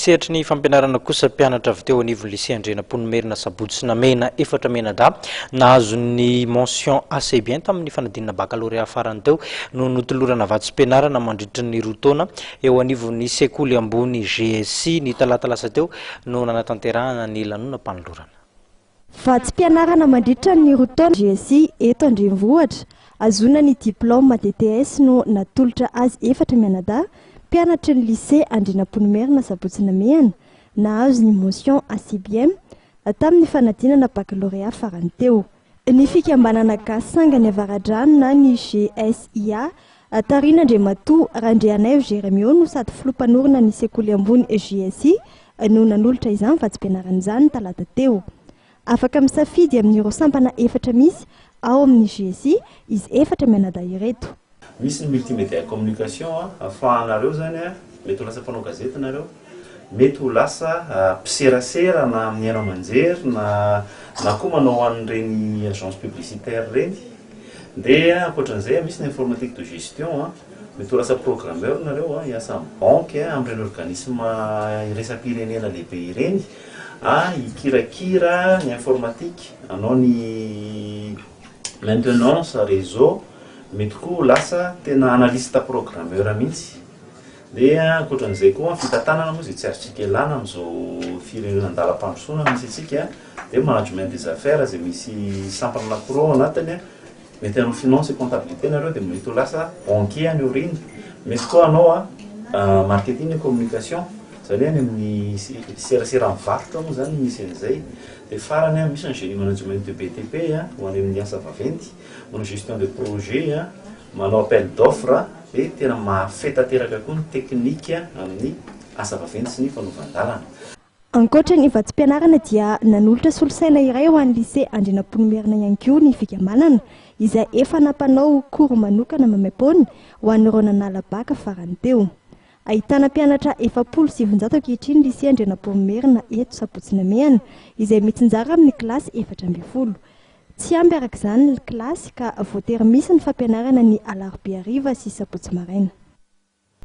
Sehatry ny fampianarana kosa mpianatra avy teo anivon'ny Lycée Andrianampoinimerina Sabotsy sy Namehina efatra mianadahy nahazo ny mention assez bien tamin'ny fanadinana baccalauréat farany teo no notolorana vatsim-pianarana mandritry ny roa taona eo anivon'ny sekoly ambony GSI. Ny talata lasa teo no nanatanterahana ny lanonam-panolorana. Vatsim-pianarana mandritra ny roa taona GSI eto an-drenivohitra. Hahazoana ny diplaoma DTS no natolotra azy efatra mianadahy, mpianatry ny Lycée Andrianampoinimerina Sabotsy Namehana, nahazo ny mention assez bien tamin'ny fanadinana baccalauréat farany teo. Ny fikambanana gasy sangany Avaradrano na ny GSIA Taorian' Andriamatoa Randrianaivo Jeremio no sady filoha mpanorina ny sekoly ambony JSI no nanolotra izany vatsim-pianarana izany ny talata teo. Afaka misafidy amin' ireo sampana efatra misy ao amin' ny JSI izy efatra mianadahy ireto. Misy ny multimedia communication afahanareo zany mety ho lasa mpanao gazety nareo. Mety ho lasa mpiserasera na amin'ny haino aman-jery na na koa manao ho an'ireny agence publicitaire ireny. Dia ankoatra an'izay misy ny informatique de gestion a, mety ho lasa programmeur nareo a, hiasa amin'ny banky a, amin'ireny organisme iraisam-pirenena lehibe ireny a, hikirakira ny informatique, hanao ny maintenance réseau, mety koa ho lasa tena analyste programmeur mihitsy. Dia ankoatran'izay koa, fitantanana moa izay tsy azontsika ialana amin'izao firenena an-dalam-pandrosoana misy antsika, dia management des affaires izay misy sampana anankiroa ao anatiny, mety hanao finance et comptabilité nareo dia mety ho lasa banquier any aoriana, mety koa hanao marketing et communication, izany hoe any amin'ny serasera amin'ny varotra moa izany misy an'izay, dia farany misy ny génie management de BTP ho any amin'ny asa vaventy, manao gestion de projet, manao appel d'offre, Hoe tena mahafehy tanteraka koa ny teknika amin'ny asa vaventy sy ny fanovan-dalana. Ankoatra ny vatsim-pianarana dia nanolotra solosaina iray ho an'ny Lycée Andrianampoinimerina ihany koa ny Fikambanana izay efa nampanao cours manokana maimaim-poana ho an'ireo nanala Bac farany teo. Ahitana mpianatra efapolo sy sivinjato ankehitriny ny Lycée Andrianampoinimerina eto Sabotsy Namehana izay mitsinjara amin'ny kilasy efatra ambin'ny folo Tsy ampy araka izany ny kilasy ka voatery misy ny fampianarana ny alarobia hariva sy sabotsy maraina.